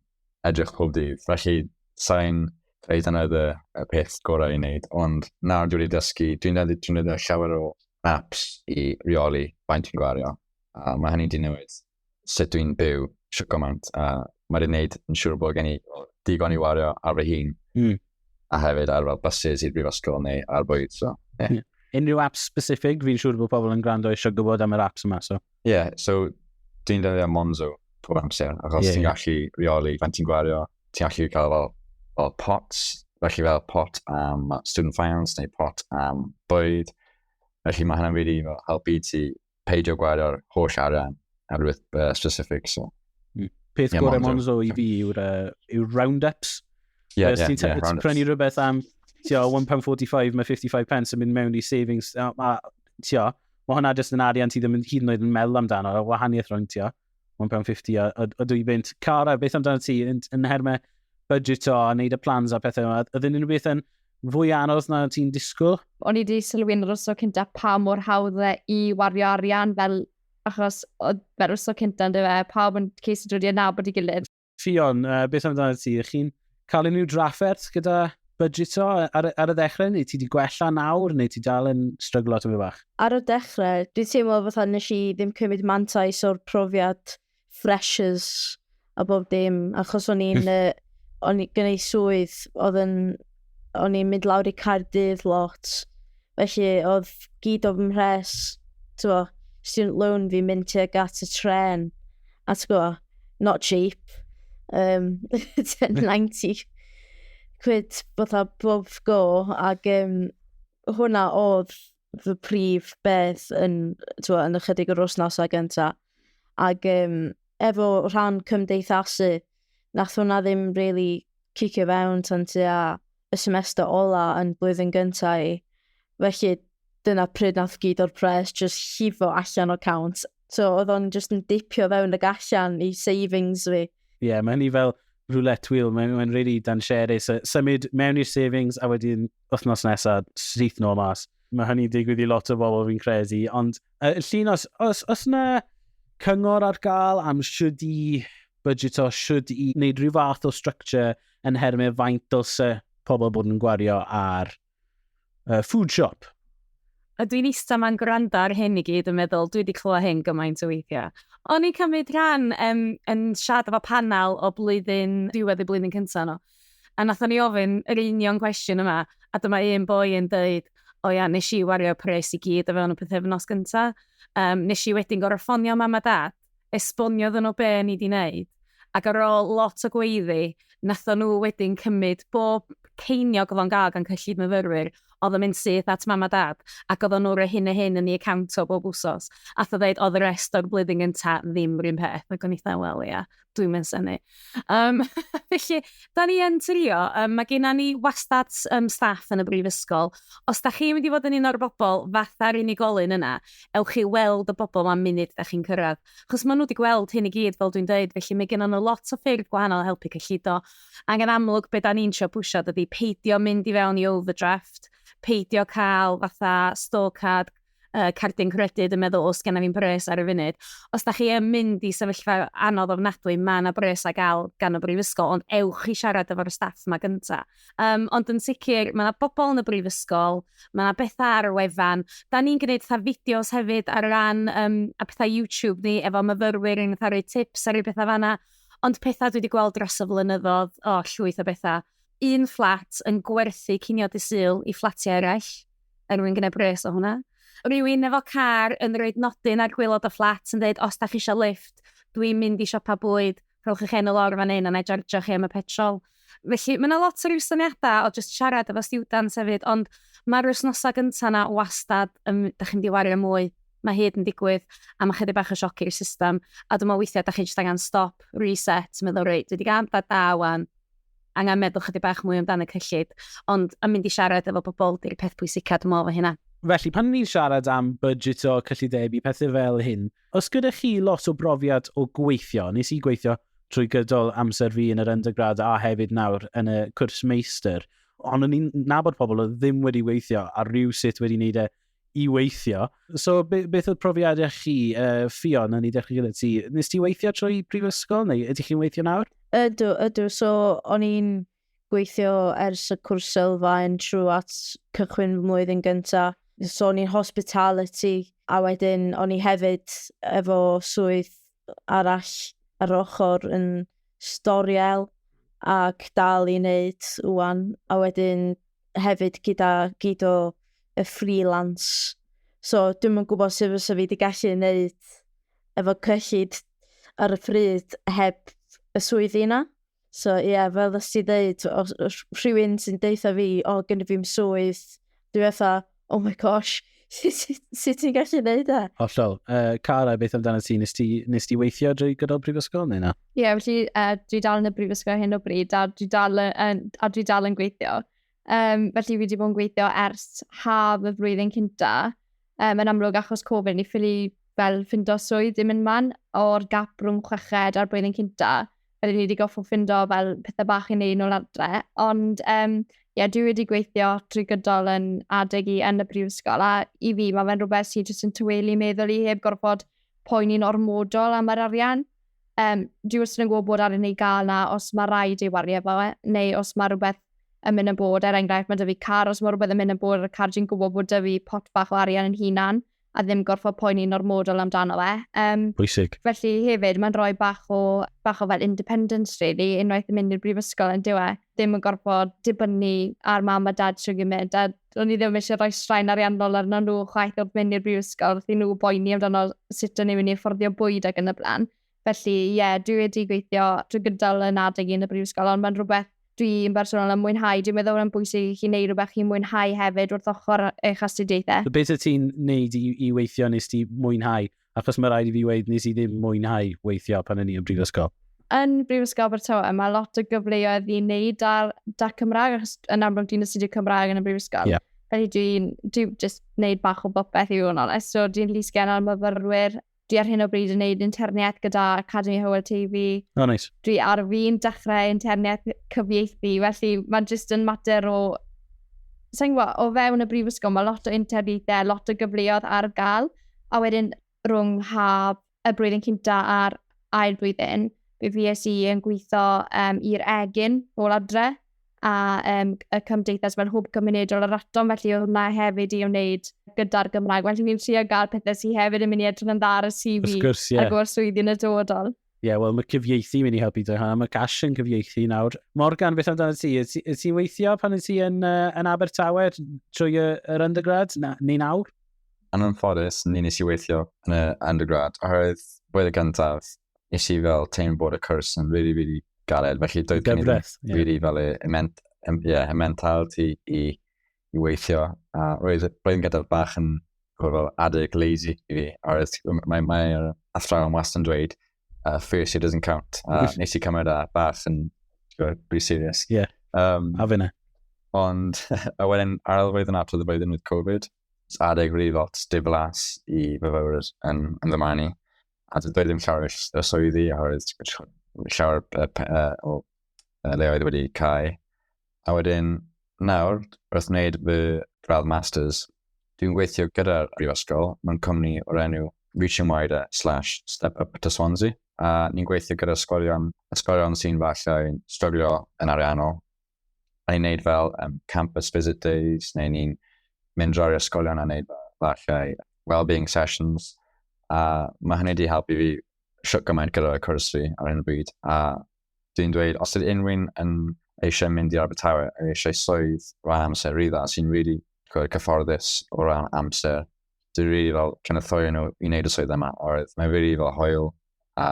edrych pob dydd. Felly, sa'n dweud yna y, y peth gorau i wneud, ond nawr dwi'n ei dysgu, dwi'n edrych dwi'n edrych llawer o apps i reoli faint dwi'n gwario, a mae hynny wedi newid sut dwi'n byw sio gymaint, a mae wedi gwneud yn siŵr bod gen i digon i wario ar fy hun, mm. a hefyd ar fel buses i'r brifysgol neu ar bwyd. So, yeah. yeah. Unrhyw apps specific, fi'n siŵr bod pobl yn gwrando eisiau gwybod am yr apps yma. So. Ie, yeah, so dwi'n delio Monzo pob amser, achos yeah, ti'n yeah. gallu reoli fan ti'n gwario, ti'n gallu cael fel, fel pots, felly fel pot am student finance neu pot am bwyd. Felly mae hynny'n really fel, helpu ti peidio gwario'r holl arian ar rhywbeth uh, specific. So. Mm. Peth yeah, gorau Monzo i fi yw'r uh, yw round-ups. Yeah, yeah, ti'n yeah, round prynu rhywbeth am £1.45, mae 55 pence yn mynd mewn i savings. Tio, Mae hwnna jyst yn arian ti ddim yn hyd yn oed yn meddwl amdano, y wahaniaeth rhwng ti o £1.50 a, a, a dwy fynt. Cara, beth amdano ti yn, yn hermau budget o a wneud y plans a pethau yma? Ydyn nhw'n beth yn fwy anodd na ti'n disgwyl? O'n i wedi sylwi'n yr oso cynta pa mor hawdd e i wario arian fel achos oedd fe'r oso cynta yn dyfa, pawb yn ceisio dod i adnabod i gilydd. Ffion, uh, beth amdano ti? Ych chi'n cael unrhyw drafferth gyda budgeto ar, ar y ddechrau, neu ti wedi gwella nawr, neu ti dal yn stryglo tyfu bach? Ar y dechrau, dwi'n teimlo fatha nes i ddim cymryd mantais o'r profiad freshers a bob dim, achos o'n i'n, uh, o'n i gynnau swydd oedd yn O'n i'n mynd lawr i Caerdydd lot, felly oedd gyd o fy mhres, ti'n gwbod, student loan fi'n mynd tuag at y tren, a ti'n gwbod, not cheap, um, 1090 quid fatha bob go, ac um, hwnna oedd fy prif beth yn, twa, yn ychydig yr wythnosau gyntaf. Ac um, efo rhan cymdeithasu, nath hwnna ddim rili cicio fewn tan tua y semester ola yn blwyddyn gynta i. Felly dyna pryd nath gyd o'r pres jyst llifo allan o cawnt. So oedd o'n jyst yn dipio fewn y gallan i savings fi. Ie, yeah, mae hynny fel roulette wheel, mae'n mae really dansiarus. Symud mewn i'r savings a wedyn wythnos nesaf, syth nôl mas. Mae hynny'n digwydd i lot o bobl fi'n credu, ond uh, llun os, os, os na cyngor ar gael am siwdi budgeto should i wneud rhyw fath o structure yn hermau faint dylse pobl bod yn gwario ar uh, food shop. A dwi'n eistedd ma'n gwrando ar hyn i gyd yn meddwl, dwi wedi clywed hyn gymaint o weithiau. O'n i'n cymryd rhan um, yn siarad efo panel o blwyddyn, diwedd y blwyddyn cyntaf nhw. A nath o'n i ofyn yr union cwestiwn yma, a dyma un boi yn dweud, o ia, nes i wario pres i gyd o fewn y pethau nos gyntaf. Um, nes i wedyn gorau ffonio mam a dad gwybod, esboniodd yno be o'n i 'di wneud, ac ar ôl lot o gweiddi, nathon nhw wedyn cymryd bob ceiniog odd o'n gael gan cyllid myfyrwyr, oedd yn mynd syth at mam a dad, ac oedd o'n nhw roi hyn a hyn yn ei account o bob wsos, a oedd ddeud oedd y rest o'r blwyddyn gyntaf ddim rhywun peth, ac o'n i fatha, wel ia, dwi'm yn synnu. Um, felly, da ni yn trio, um, mae gennym ni wastad um, staff yn y brifysgol. Os da chi'n mynd i fod yn un o'r bobl fatha'r unigolyn yna, ewch chi weld y bobl ma'n munud da chi'n cyrraedd. Chos maen nhw wedi gweld hyn i gyd, fel dwi'n dweud, felly mae gennym nhw lot o ffyrdd gwahanol helpu cyllido. Ac yn amlwg, beth da ni'n sio pwysio, dydy peidio mynd i fewn i overdraft, peidio cael fatha scorecard, uh, cardyn credyd yn meddwl, os gennym fi'n bres ar y funud. Os da chi yn mynd i sefyllfa anodd ofnadwy, mae yna bres a gael gan y brifysgol, ond ewch i siarad efo'r staff yma gyntaf. Um, ond yn sicr, mae yna bobl yn y brifysgol, mae yna bethau ar y wefan. Da ni'n gwneud fatha fideos hefyd ar ran um, a pethau YouTube ni, efo myfyrwyr yn cael rhoi tips ar ei bethau fanna. Ond pethau dwi wedi gweld dros y flynyddoedd, o, oh, llwyth o bethau. Un fflat yn gwerthu cinio disyl i fflatiau eraill, er mwyn gwneud pres o hwnna. Rwy'n efo car yn rhoi nodyn ar gwylod o fflat yn dweud, os da chi eisiau lift, dwi'n mynd i siopa bwyd, rhowch eich enw lawr fan hyn a na i jardio chi am y petrol. Felly, mae yna lot o ryw syniadau o just siarad efo students hefyd, ond mae'r wythnosau gyntaf yna wastad, um, da chi'n diwario mwy, mae hyd yn digwydd, a mae chydig bach o sioc i'r system, a dwi'n meddwl weithiau da chi jyst angen stop, reset, meddwl, rei, dwi wedi gael da da wan, angen meddwl chydig bach mwy amdano cyllid, ond yn mynd i siarad efo bobl di'r peth pwysica dwi'n meddwl fy hynna. Felly, pan ni'n siarad am budget o cyllidebu, pethau fel hyn, os gyda chi lot o brofiad o gweithio, nes i gweithio trwy gydol amser fi yn yr undergrad a hefyd nawr yn y cwrs meistr, ond o'n i'n nabod pobl oedd ddim wedi weithio a rhyw sut wedi wneud e i weithio. So, be, beth oedd profiadau chi, uh, Fion, yn ei ddechrau gyda ti? Nes ti weithio trwy prifysgol, neu ydych chi'n weithio nawr? Ydw, ydw. So, o'n i'n gweithio ers y cwrs sylfaen trwy at cychwyn fy mlwyddyn gynta. So, o'n i'n hospitality, a wedyn o'n i hefyd efo swydd arall ar ochr yn storiel ac dal i wneud wwan. A wedyn hefyd gyda gyd o y freelance. So dwi'm yn gwybod sut fysa fi wedi gallu wneud efo cyllid ar y pryd heb y swyddi yna. So ie, yeah, fel ddys ti ddeud, rhywun sy'n deitha fi, o, oh, gen i fi'n swydd, dwi fatha, oh my gosh, sut ti'n gallu gwneud e? Hollol. Uh, Cara, beth amdano ti? Nes ti, nes ti weithio drwy gydol brifysgol neu na? Ie, yeah, felly uh, dwi dal yn y brifysgol hyn o bryd a dwi dal yn, a dwi dal yn gweithio. Um, felly fi wedi bod yn gweithio ers haf y flwyddyn cynta. Um, yn amlwg achos Covid, ni ffili fel ffindo swydd ddim yn man o'r gap rhwng chweched a'r blwyddyn cynta. rydyn ni wedi goffo ffindo fel pethau bach i wneud nôl adre. Ond um, yeah, dwi wedi gweithio trwy gydol yn adeg i yn y brifysgol a i fi mae fe'n rhywbeth sy'n jyst yn tywelu meddwl i heb gorfod poeni'n ormodol am yr arian. Um, dwi wrth yn gwybod bod arian ei gael na os mae rhaid ei wario fo e, neu os mae rhywbeth yn mynd yn bod, er enghraifft mae dyfu car, os mae rhywbeth yn mynd yn bod ar y car, dwi'n gwybod bod dyfu pot bach o arian yn hunan, a ddim gorfod poeni'n ormodol amdano fe. Um, Pwysig. Felly hefyd, mae'n rhoi bach o, bach o fel independence, really, unwaith yn mynd i'r brifysgol yn diwe. Ddim yn gorfod dibynnu ar mam a dad sy'n gymryd, a o'n i ddim eisiau rhoi straen ariannol arno nhw chwaith wrth mynd i'r brifysgol, wrth i nhw boeni amdano sut o'n i'n mynd i fforddio bwyd ac yn y blaen. Felly, ie, yeah, dwi wedi gweithio drwy gydol yn adeg yn y brifysgol, ond mae'n rhywbeth dwi'n bersonol yn mwynhau. Dwi'n meddwl yn bwysig i chi wneud rhywbeth chi'n mwynhau hefyd wrth ochr eich astudiaethau. Beth y ti'n wneud i, i weithio nes ti mwynhau? Achos mae rhaid i fi weid nes i ddim mwynhau weithio pan yn i yn brifysgol. Yn Brifysgol Abertawe, mae lot o gyfleoedd i wneud ar da Cymraeg, achos yn amlwg dwi'n astudio Cymraeg yn y brifysgol. Yeah. Felly dwi'n dwi just wneud bach o bopeth i fod yn onest. So dwi'n llysgen ar myfyrwyr Dwi ar hyn o bryd yn gwneud interniaeth gyda Academi Hywel Teifi. O, oh, neis. Nice. Dwi ar fi'n dechrau interniaeth cyfieithu, felly mae'n jyst yn mater o... Sa'n gwybod, o fewn y brifysgol, mae lot o interniaethau, lot o gyfleoedd ar gael, a wedyn rhwng haf y blwyddyn cynta a'r ail blwyddyn, fe fi es i yn gweithio um, i'r egin ôl adre, a um, y cymdeithas fel hwb cymunedol yr atom, felly oedd hwnna hefyd i wneud gyda'r Gymraeg. Felly ni'n trio gael pethau sy'n hefyd yn mynd i edrych yn dda ar y CV gwrs, yeah. ar gyfer swyddi yn y dodol. Ie, yeah, wel, mae cyfieithu mynd i helpu dweud hwnna. Mae Gash yn cyfieithu nawr. Morgan, beth amdano ti? Ti'n ti weithio pan ydych ti yn, uh, yn Abertawe trwy y, yr undergrad na, neu nawr? Yn anffodus, ni nes i weithio yn y undergrad, oherwydd blwyddyn gyntaf, nes i fel teimlo bod y cwrs yn really, really galed. Felly doedd gen i ddim Gyfres, ie. really fel y y ment, um, yeah, y mentality i, i weithio. A roedd, roedd yn gadael bach yn ch'mo' fel adeg lazy i fi. A roedd mae mae'r athrawon wastad yn dweud uh, first year doesn't count. A Wyth. nes i cymryd a bach yn t'gwod, pretty serious. Ie. Um, A fe na. Ond, a wedyn ar ôl flwyddyn after the blwyddyn with Covid, s- adeg rili lot diflas i fyfyrwyr yn, yn fy marn i. a doedd ddim llawer o swyddi, a oedd llawer o leoedd wedi cael. A wedyn, nawr, wrth wneud fy gradd masters, dwi'n gweithio gyda'r brifysgol mewn cwmni o'r enw Reaching Wider slash Step Up to Swansea, a ni'n gweithio gyda sgolion, sgolion sy'n falle yn struglio yn ariannol, a ni'n neud fel um, campus visit days, neu ni'n mynd drwy'r ysgolion a neud falle well-being sessions. A mae hynny wedi helpu fi siwt gymaint gyda'r cwrs fi ar un bryd. A dwi'n dweud, os ydy unrhyw'n yn eisiau mynd i Abertawe a eisiau swydd rhan amser rydda sy'n really gwrdd cyfforddus o ran amser, dwi'n really fel cynnythorio nhw i wneud y swydd yma, oherwydd mae'n really fel hoel a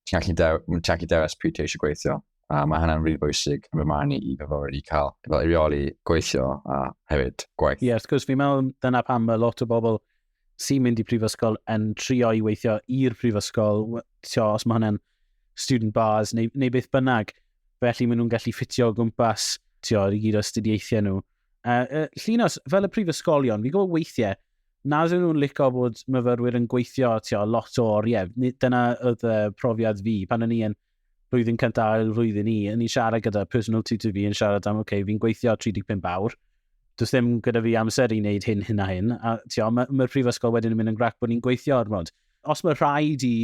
Ti'n gallu dew, ti'n gallu dewis pryd ti eisiau gweithio. A mae hynna'n rili bwysig yn fy marn i i fyfyrwyr i cael fel reoli gweithio a hefyd gwaith. Ie, yeah, wrth gwrs, fi'n meddwl dyna pam mae lot o bobl sy'n mynd i prifysgol yn trio i weithio i'r prifysgol, tio, os mae hwnna'n student bars neu, neu beth bynnag. Felly maen nhw'n gallu ffitio o gwmpas, tio, i gyd o astudiaethau nhw. Uh, uh, Llinos, fel y prifysgolion, fi'n gwybod weithiau, nad ydyn nhw'n licio bod myfyrwyr yn gweithio tio, lot o oriau. Dyna oedd y profiad fi pan o'n i yn blwyddyn cyntaf ail flwyddyn i, o'n i'n siarad gyda personal tutor fi yn siarad am, oce, okay, fi'n gweithio 35 awr, does ddim gyda fi amser i wneud hyn, hyn a hyn. A tio, mae'r ma prifysgol wedyn yn mynd yn grac bod ni'n gweithio ar mod. Os mae rhaid i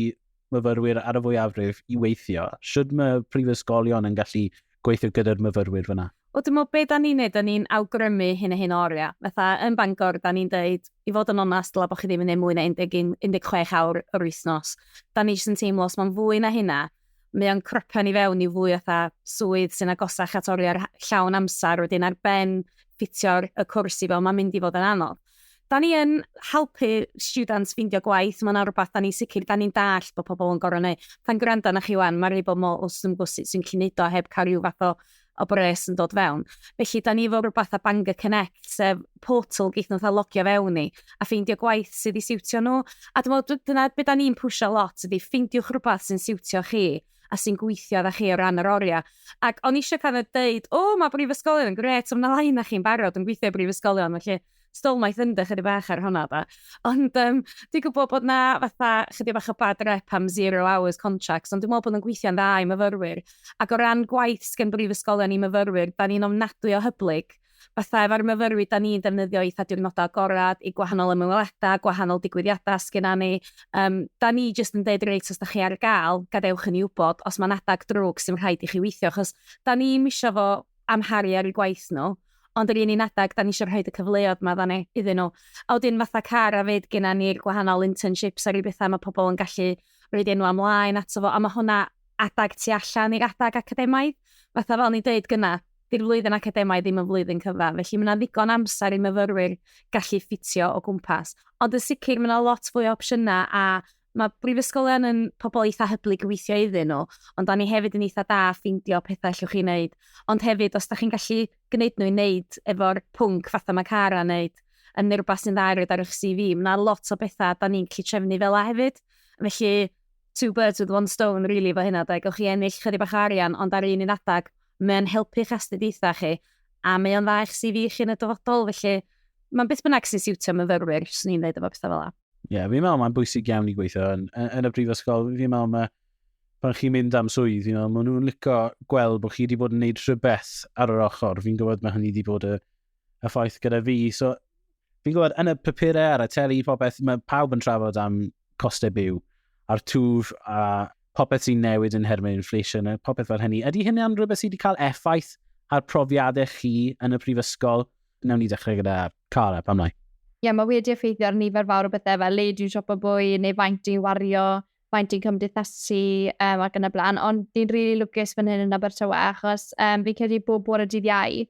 myfyrwyr ar y fwyafrif i weithio, sydd mae prifysgolion yn gallu gweithio gyda'r myfyrwyr fyna? Wel dwi'n meddwl be da ni'n neud, da ni'n awgrymu hyn a hyn o oriau. Fatha yn Bangor, da ni'n deud, i fod yn onast, dylai bod chi ddim yn neud mwy na 11, 16 awr yr wythnos. Da ni jyst yn teimlo, os mae'n fwy na hynna, mae o'n crypio ni fewn i fwy o swydd sy'n agosach at oriau'r llawn amser, wedyn ar ben ffitio'r y cwrs i fel, mae'n mynd i fod yn anodd. Da ni yn helpu students ffeindio gwaith, mae'n rhywbeth da ni sicr, da ni'n dall bod pobl yn gorau neu. Pan gwrando na chi wan, mae'n rhaid bod mor os yn gwrs sy'n gallu neud o heb cael rhyw fath o, o bres yn dod fewn. Felly, da ni efo rhywbeth a Bangor Connect, sef portal geith nhw'n logio fewn i, a ffeindio gwaith sydd i siwtio nhw. A dwi'n meddwl, dyna beth da ni'n pwysio lot, ydy ffeindiwch rhywbeth sy'n siwtio chi. a sy'n gweithio â chi o ran yr oriau. Ac o'n i eisiau kind of deud, o, mae brifysgolion yn gret, ond na lai na chi'n barod yn gweithio i brifysgolion, felly stolmaeth yn dych ydy bach ar hwnna da. Ond um, dwi'n gwybod bod na fatha chydig bach o bad rep am zero hours contracts, ond dwi'n meddwl bod yn gweithio'n dda i myfyrwyr. Ac o ran gwaith sgen brifysgolion i myfyrwyr, da ni'n ofnadwy o hyblyg. Fatha efo'r myfyrwyr 'dan ni'n defnyddio eitha' diwrnodau agored i gwahanol ymweledau, gwahanol digwyddiadau sy gynna ni. Yym 'dan ni jyst yn deud reit os 'dach chi ar ga'l gadewch i ni wbod os ma'n adag drwg sy'n rhaid i chi weithio achos 'dan ni'm isio fo amharu ar 'u gwaith nhw ond yr un un adag 'dan ni isio rhoid y cyfleodd 'ma 'dda ni iddyn nhw. A wedyn fatha Cara 'fyd gynna ni'r gwahanol internships a ryw betha ma' pobl yn gallu roid enwa' mlaen ato fo a ma' hwnna adag tu allan i'r adag academaidd fatha fel o'n i'n deud gynna'. 'di'r flwyddyn academaidd ddim yn flwyddyn cyfan, felly mae yna ddigon amser i myfyrwyr gallu ffitio o gwmpas. Ond yn sicr, mae yna lot fwy o opsiynau a mae brifysgolion yn pobl eitha hyblyg i weithio iddyn nhw, ond da ni hefyd yn eitha da ffeindio pethau allwch chi wneud. Ond hefyd, os da chi'n gallu gwneud nhw i wneud efo'r pwnc fatha mae Cara wneud, yn neu rhywbeth sy'n dda i roed ar eich CV, mae yna lot o bethau da ni'n gallu trefnu fel a hefyd. Felly, two birds with one stone, really, fo hynna, da. Gawch chi ennill chydig bach o arian, ond ar un un adag, Mae'n helpu'ch astudiaethau chi, a mae o'n dda i'ch CV chi yn y dyfodol, felly mae'n beth bynnag sy'n siwtio myfyrwyr, swn i'n dweud efo pethau fel yna. Ie, yeah, fi'n meddwl mae'n bwysig iawn i gweithio yn, yn y brifysgol. Fi'n meddwl mae, pan chi'n mynd am swydd, fi'n meddwl maen nhw'n licio gweld bod chi wedi bod yn gwneud rhywbeth ar yr ochr. Fi'n gwybod mae hynny wedi bod y y ffaith gyda fi. So, fi'n gwybod, yn y papurau ar y teli, popeth, mae pawb yn trafod am costau byw a'r twf a popeth sy'n newid yn hermyn inflation a popeth fel hynny. Ydy hynny'n rhywbeth sydd wedi cael effaith ar profiadau chi yn y prifysgol? Newn ni dechrau gyda Cara, pam lai? Ie, yeah, mae wedi effeithio ar nifer fawr o bethau fel le dwi'n siopa bwy neu faint dwi'n wario maent yn cymdeithasu um, ac yn y blaen, ond ni'n rili really lwcus fan hyn yn Abertawe, achos um, fi'n credu bob bore dydd iau,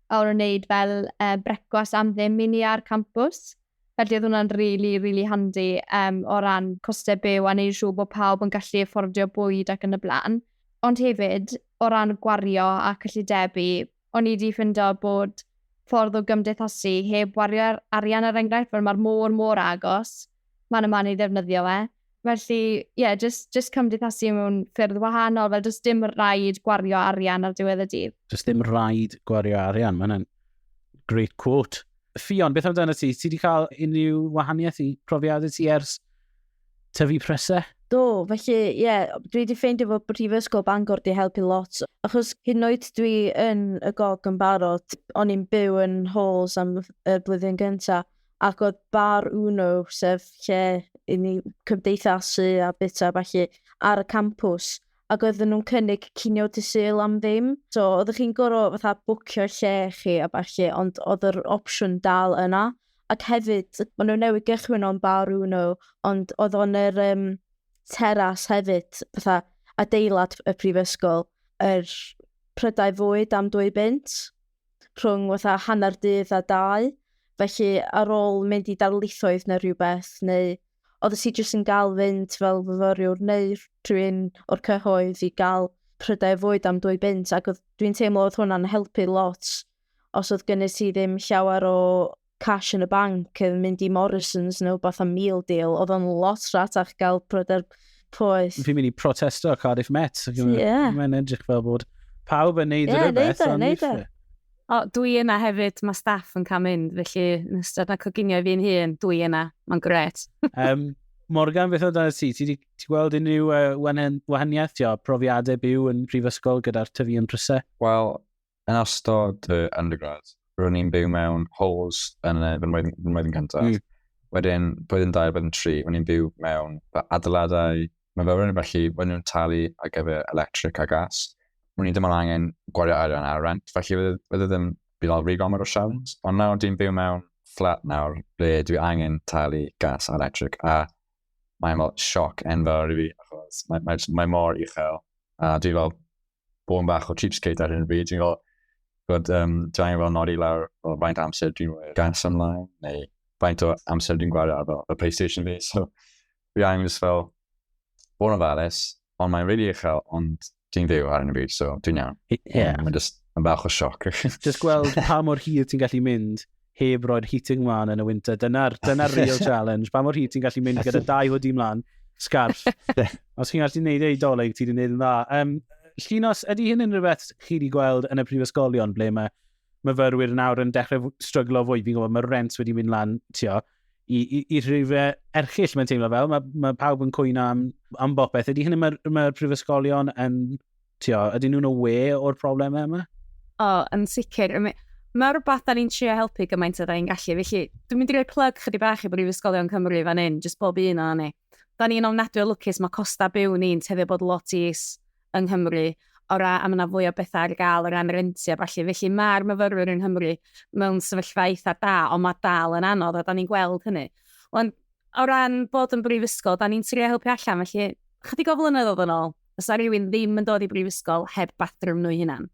a o'n wneud fel uh, brecwas am ddim i ni ar campus. Felly oedd hwnna'n really, really handi um, o ran costau byw a neud siŵr bod pawb yn gallu affordio bwyd ac yn y blaen. Ond hefyd, o ran gwario a cyllidebu, O'n i 'di ffindo bod ffordd o gymdeithasu heb wario ar arian er enghraifft, fel mae'r môr mor agos, man a man i ddefnyddio e. Felly, ie, jyst, jyst cymdeithasu mewn ffyrdd wahanol, fel does dim rhaid gwario arian ar diwedd y dydd. Does dim rhaid gwario arian, mae hwnna'n great quote. Ffion, beth amdano ti? Ti wedi cael unrhyw wahaniaeth i profiadau ti ers tyfu prysau? Do, felly ie, dwi wedi ffeindio fod Brifysgol Bangor wedi helpu lot, achos hyd yn oed dwi yn y gog yn barod, o'n i'n byw yn halls am y blwyddyn gyntaf, ac oedd bar Uno, sef lle i ni cymdeithasu a bita a ballu, ar y campws, ac oedden nhw'n cynnig cinio dy Sul am ddim. So, oeddech chi'n gorfod fatha bwcio lle chi a ballu, ond oedd yr opsiwn dal yna. Ac hefyd, maen nhw newydd gychwyn o'n bar uno, ond oedd o'n yr um, teras hefyd, fatha adeilad y prifysgol, yr er prydau fwyd am dwy bunt, rhwng fatha hanner dydd a dau. Felly, ar ôl mynd i darlithoedd neu rhywbeth, neu oedd y si jyst yn gael fynd fel fyfyriwr neu rhywun o'r cyhoedd i gael prydau fwyd am dwy bunt, ac dwi'n teimlo oedd hwnna'n helpu lot os oedd gynnydd ti ddim llawer o cash yn y banc, oedd mynd i Morrison's neu beth am meal deal, oedd o'n lot ratach gael pryder poeth. Fi'n mynd i protesto a Cardiff Met. Yeah. Mae'n edrych fel bod pawb yn neud yeah, rhywbeth. Ie, neud e, O, dwi yna hefyd, mae staff yn cael mynd, felly yn ystod na coginio fi'n hun, dwi yna, mae'n gret. um, Morgan, beth oedd ti? Ti wedi gweld unrhyw uh, wahaniaeth, tio, profiadau byw yn prifysgol gyda'r tyfu yn prysau? Wel, yn ystod fy undergrad, ro'n i'n byw mewn halls yn fy mlwyddyn cyntaf. Mm. Wedyn, blwyddyn 2, blwyddyn 3, ro'n i'n byw mewn fy adeiladau Mae fel rhywun felly, maen nhw'n talu ar gyfer electric a gas. Mwyn i ddim ond angen gwario arian ar rent, felly fydde ddim byd alfri gomod o siawns. Ond nawr dwi'n byw mewn fflat nawr ble dwi angen talu gas a electric a mae'n fel sioc enfawr i fi achos mae, mae, mae mor uchel a dwi fel bod yn bach o cheapskate ar hyn o bryd. Dwi'n gweld bod um, draen fel nodi lawr o faint amser dwi'n rhoi gas ymlaen, neu faint o amser dwi'n gwario ar fel y PlayStation fi. So, fi angen just fel bod yn ofalus, ond mae'n rili really uchel, ond dwi'n fyw ar hyn o bryd, so dwi'n iawn. Yeah. Mae'n just yn bach o sioc. just gweld pa mor hir ti'n gallu mynd heb roi'r heating mlaen yn y winter. Dyna'r dyna real challenge. Pa mor hyd ti'n gallu mynd gyda dau hoodie mlaen, scarf. Os chi'n gallu gwneud ei doleg, ti'n gwneud yn dda. Um, Llinos, ydy hyn yn rhywbeth chi wedi gweld yn y prifysgolion ble mae myfyrwyr nawr yn dechrau stryglo fwy? Fi'n gwybod mae rent wedi mynd lan, tio, i, i, i rhywbeth erchill mae'n teimlo fel. Mae, mae pawb yn cwyno am, am bopeth. Ydy hyn yn mae'r mae prifysgolion yn tio, ydyn nhw'n aware o'r problemau yma? O, oh, yn sicr. Mae rhywbeth da ni'n trio helpu gymaint o da ni'n gallu. Felly, dwi'n mynd i roi plug chydig bach i Brifysgolion Cymru fan hyn, jyst bob un o'n ni. Da ni'n ofnadwy o lwcus, mae costa byw ni'n tefyd bod lot is yng Nghymru o ra am yna fwy o bethau ar gael o ran renti a falle. Felly mae'r myfyrwyr yng Nghymru mewn sefyllfa eitha da, ond mae dal yn anodd a da ni'n gweld hynny. Ond o ran bod yn brifysgol, da ni'n trio helpu allan, felly chydig o flynyddoedd yn ôl, fysa rhywun ddim yn dod i brifysgol heb bathroom nhw'i hunan.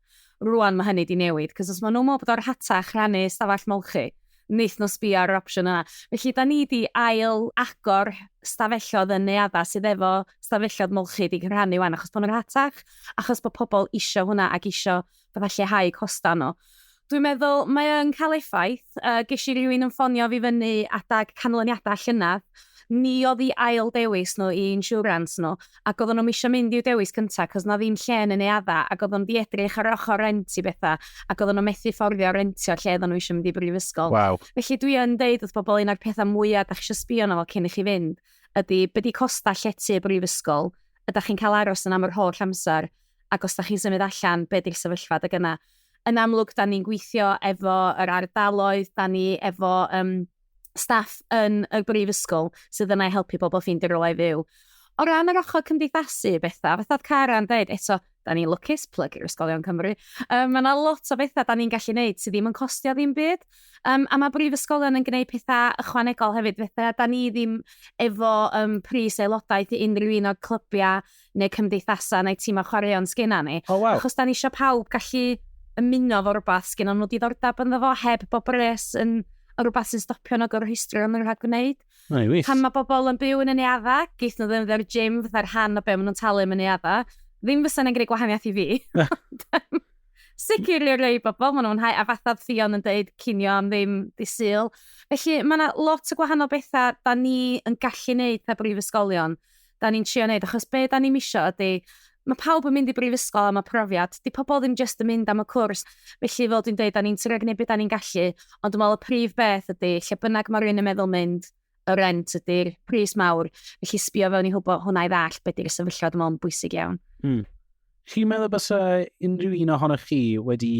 Rwan mae hynny di newid, cos os maen nhw'n meddwl bod o'r hatach rannu stafell molchi, wnaeth nhw sbio ar yr opsiwn yna. Felly, da ni di ail agor stafellodd yn neadda sydd efo stafellodd molchi di rhannu wan, achos bod nhw'n hatach, achos bod pobl eisiau hwnna ac eisiau fatha lleihau costau nhw. Dwi'n meddwl mae o'n cael effaith. Uh, ges i rywun yn ffonio fi fyny adag canlyniadau llynedd. Ni oedd i ail dewis nhw i insurance nhw, ac oedden nhw'n eisiau mynd i'w dewis cyntaf, cos na ddim lle yn ei adda, ac oedden nhw wedi edrych ar ochr rent i bethau, ac oedden nhw methu fforddio rentio lle oedden nhw eisiau mynd i brifysgol. Wow. Felly dwi yn deud wrth bobl un o'r pethau mwyaf da chi eisiau sbio yno fel cyn i chi fynd, ydy byddi costau llety y brifysgol, ydych chi'n cael aros yn am yr holl amser, ac os da chi'n symud allan, be di'r sefyllfa da gyna? Yn amlwg, da ni'n gweithio efo yr ardaloedd, da ni efo um, staff yn y brifysgol sydd yna i helpu bobl ffeindio rhywle i fyw. O ran yr ochr cymdeithasu, bethau, fatha oedd Cara'n dweud, eto, da ni'n lwcus, plyg i'r ysgolion Cymru. Um, mae yna lot o bethau da ni'n gallu gwneud sydd ddim yn costio ddim byd. Um, a mae brifysgolion yn gwneud pethau ychwanegol hefyd, bethau da ni ddim efo um, pris aelodaeth i unrhyw un o'r clybiau neu cymdeithasau neu tîmau chwaraeon sgynna ni. Oh, wow. Achos da ni eisiau pawb gallu ymuno fo rhywbeth sgynna nhw diddordeb ynddo fo heb bob res yn rhywbeth sy'n stopio nhw gyrru history o'n nhw'n rhaid gwneud. Pan mae bobl yn byw yn y neadda, geith nhw ddim dde'r gym fatha'r rhan o be maen nhw'n talu yn y neadda. Ddim fysa yna'n gwneud gwahaniaeth i fi. sicr i'r rei bobl, maen nhw'n hau, a fatha Fion yn dweud, cinio am ddim di syl. Felly, mae yna lot o gwahanol bethau da ni yn gallu neud pe brifysgolion. da ni'n trio wneud, achos be da ni'n misio ydy, mae pawb yn mynd i brifysgol am y profiad, di pobl ddim jyst yn mynd am y cwrs, felly fel dwi'n dweud, da ni'n trio gwneud beth da ni'n gallu, ond dwi'n meddwl y prif beth ydy, lle bynnag mae rhywun yn meddwl mynd, y rent ydy'r pris mawr, felly sbio fewn i hwbo hwnna i ddall beth ydy'r sefyllfa, dwi'n meddwl yn bwysig iawn. Mm. Chi'n meddwl bys unrhyw un ohonoch chi wedi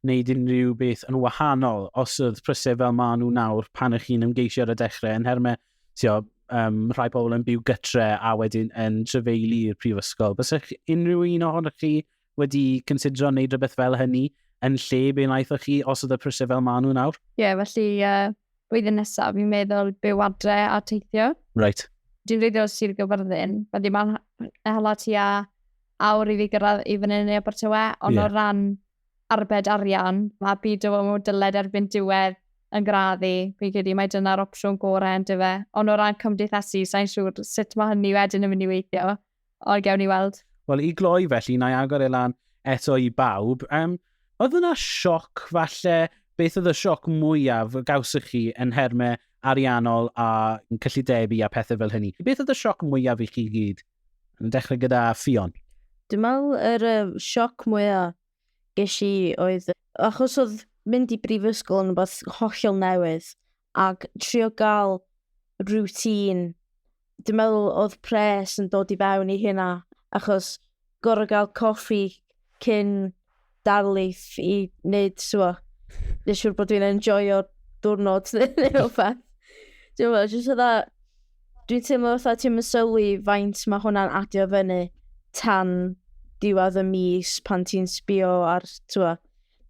wneud unrhyw beth yn wahanol os oedd prysau fel maen nhw nawr pan ych chi'n ymgeisio ar y dechrau yn hermau tio, um, rhai pobl yn byw gytre a wedyn yn trefeili i'r prifysgol. Bys eich unrhyw un ohonoch chi wedi considero wneud rhywbeth fel hynny yn lle be wnaethoch chi os oedd y prysau fel maen nhw nawr? Ie, yeah, felly uh, blwyddyn nesaf fi'n meddwl byw adre a teithio. Right. Dwi'n reiddio Sir Gyfyrddin, felly mae'n hala ti a awr i fi gyrraedd i fyny yn ei Abertawe, ond yeah. o ran arbed arian, a bydd dy fod dyled erbyn diwedd yn gradd i, fi'n credu mae dyna'r opsiwn gorau yn dyfe. Ond o ran cymdeithasu, sa'n siŵr sut mae hynny wedyn yn mynd i weithio, ond gewn ni weld. Wel, i gloi felly, na i agor e lan eto i bawb. Um, oedd yna sioc falle, beth oedd y sioc mwyaf gawsych chi yn hermau ariannol a cyllidebu a pethau fel hynny? Beth oedd y sioc mwyaf i chi gyd? Yn dechrau gyda Ffion. Dwi'n meddwl yr uh, sioc mwyaf ges i oedd, achos oedd mynd i brifysgol yn rhywbeth hollol newydd, ac trio gael routine, dwi'n meddwl oedd pres yn dod i fewn i hynna, achos gorau gael coffi cyn darlith i wneud, siwa, neu siwr bod dwi'n enjoyo diwrnod neu rhywbeth. Dwi'n meddwl, jyst fydda, dwi'n teimlo fatha ti'n mysylwi faint mae hwnna'n adio fyny tan diwedd y mis pan ti'n sbio ar, ti'n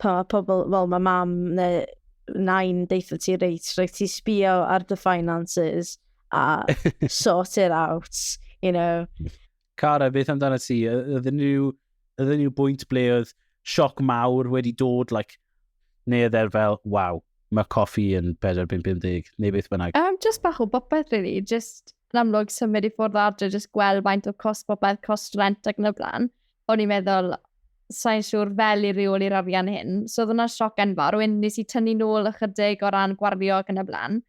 pan mae pobl, wel, mae mam neu nain deitha ti reit, reit ti sbio ar dy finances a sort it out, you know. Cara, beth amdana ti? Ydyn nhw, ydyn nhw bwynt ble oedd sioc mawr wedi dod, like, neu oedd e'r fel, waw, mae coffi yn 4.50, neu beth bynnag? Um, just bach o bopeth, really. Just yn amlwg symud i ffwrdd adre, just gweld faint o cost bopeth, cost rent ac yn y blaen. O'n i'n meddwl, sa'n siŵr fel i reoli'r arian hyn. So oedd hwnna'n sioc enfawr. Rwy'n nes i tynnu nôl ychydig o ran gwario ac yn y blaen.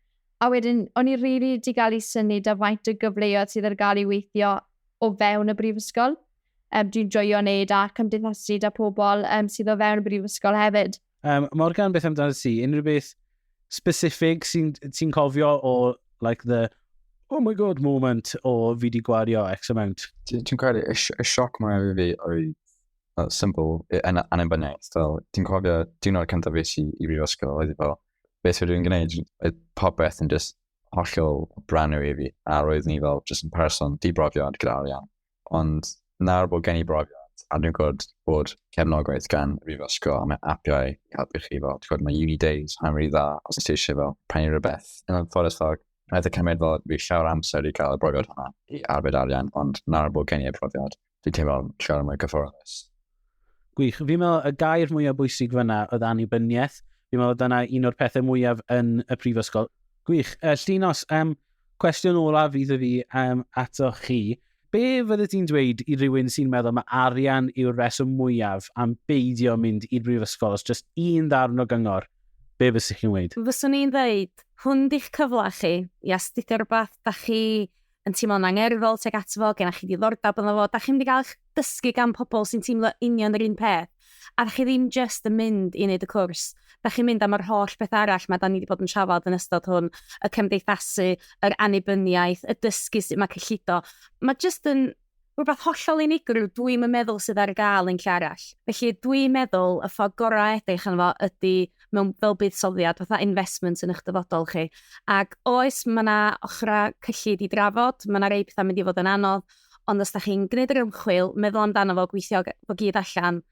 A wedyn, o'n i rili really di gael ei syni da faint o gyfleoedd sydd ar gael i weithio o fewn y brifysgol. Um, dwi'n joio wneud a cymdeithasu da pobl um, sydd o fewn y brifysgol hefyd. Um, Morgan, beth amdano ti? Unrhyw beth specific sy'n sy cofio o like the oh my god moment o fi di gwario X amount? Dwi'n credu, y, y sioc mwyaf i fi oedd uh, symbol yn annibyniaeth. Dwi'n cofio diwrnod cyntaf fi i brifysgol oedd i fel, beth rydw i'n gwneud, oedd popeth yn just hollol brand new i fi, a roedd ni fel just yn person dibrofiad gyda arian. Ond nawr bod gen i brofiad, a dwi'n gwybod bod cefnogaeth gan Rifysgo a mae apiau i helpu chi fel, ti'n gwybod, mae Uni Days, mae'n rhi dda os ydych eisiau fel pennu rhywbeth. Yn o'n ffordd fel, Roedd y cymryd fel fi llawer amser i gael y brofiad hwnna i arbed arian, ond nawr bod gen i y profiad, Fi'n teimlo'n siarad mwy cyfforddus. Gwych. Fi'n meddwl y gair mwyaf bwysig fyna oedd annibyniaeth. Fi'n meddwl dyna un o'r pethau mwyaf yn y prifysgol. Gwych. Uh, Llinos, um, cwestiwn olaf fydd y fi um, ato chi. Be fydde ti'n dweud i rywun sy'n meddwl mae arian yw'r reswm mwyaf am beidio mynd i'r brifysgol? Os just un ddarn o gyngor, be fysych chi'n dweud? Fyswn i'n dweud, hwn di'ch cyfle chi i astudio rhywbeth da chi yn teimlo'n angerddol tuag ato fo, gennych chi ddiddordeb ynddo fo, da chi'n mynd i gael eich dysgu gan pobl sy'n teimlo union yr un peth, a da chi ddim just yn mynd i wneud y cwrs, da chi'n mynd am yr holl beth arall mae da ni wedi bod yn trafod yn ystod hwn, y cymdeithasu, yr annibyniaeth, y dysgu sut mae cyllido. Mae just yn Rhywbeth hollol unigryw dwi'm yn meddwl sydd ar gael yn lle arall. Felly dwi'n meddwl y ffordd gorau edrych yn fo ydy mewn fel buddsoddiad, fatha investment yn eich dyfodol chi. Ac oes, mae yna ochrau cyllid i drafod, mae yna rei pethau mynd i fod yn anodd, ond os da chi'n gwneud yr ymchwil, meddwl amdano fo, gweithio fo gyd allan,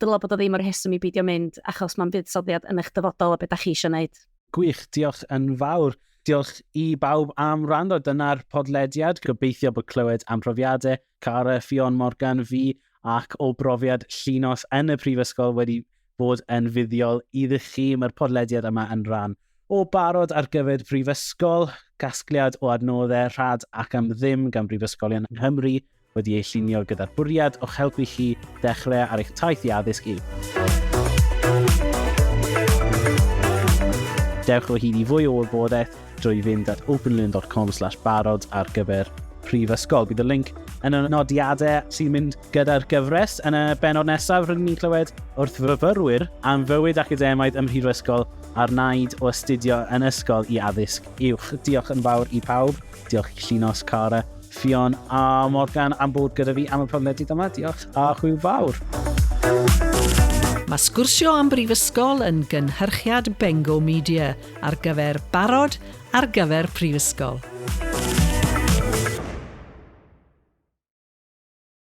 dylai bod o ddim y rheswm i beidio mynd, achos mae'n buddsoddiad yn eich dyfodol a beth da chi eisiau wneud. Gwych, diolch yn fawr. Diolch i bawb am rando. Dyna'r podlediad. Gobeithio bod clywed am profiadau Cara, Ffion, Morgan, fi ac o brofiad llinos yn y prifysgol wedi bod yn fuddiol iddi chi. Mae'r podlediad yma yn rhan O barod ar gyfer prifysgol, casgliad o adnoddau rhad ac am ddim gan brifysgolion yng Nghymru wedi ei llunio gyda'r bwriad o'ch helpu chi dechrau ar eich taith i addysg uwch. Dewch o hyd i fwy o wybodaeth drwy fynd at openlearn.com slash barod ar gyfer prifysgol. Bydd y link yn y nodiadau sy'n mynd gyda'r gyfres. Yn y benod nesaf, rydyn ni'n clywed wrth fyfyrwyr am fywyd academaidd ym Mhrifysgol a'r naid o astudio yn ysgol i addysg uwch. Diolch yn fawr i pawb. Diolch i Llinos, Cara, Ffion a Morgan am bod gyda fi am y podlediad yma. Diolch a hwyl fawr. Mae sgwrsio am brifysgol yn gynhyrchiad Bengo Media ar gyfer barod ar gyfer prifysgol.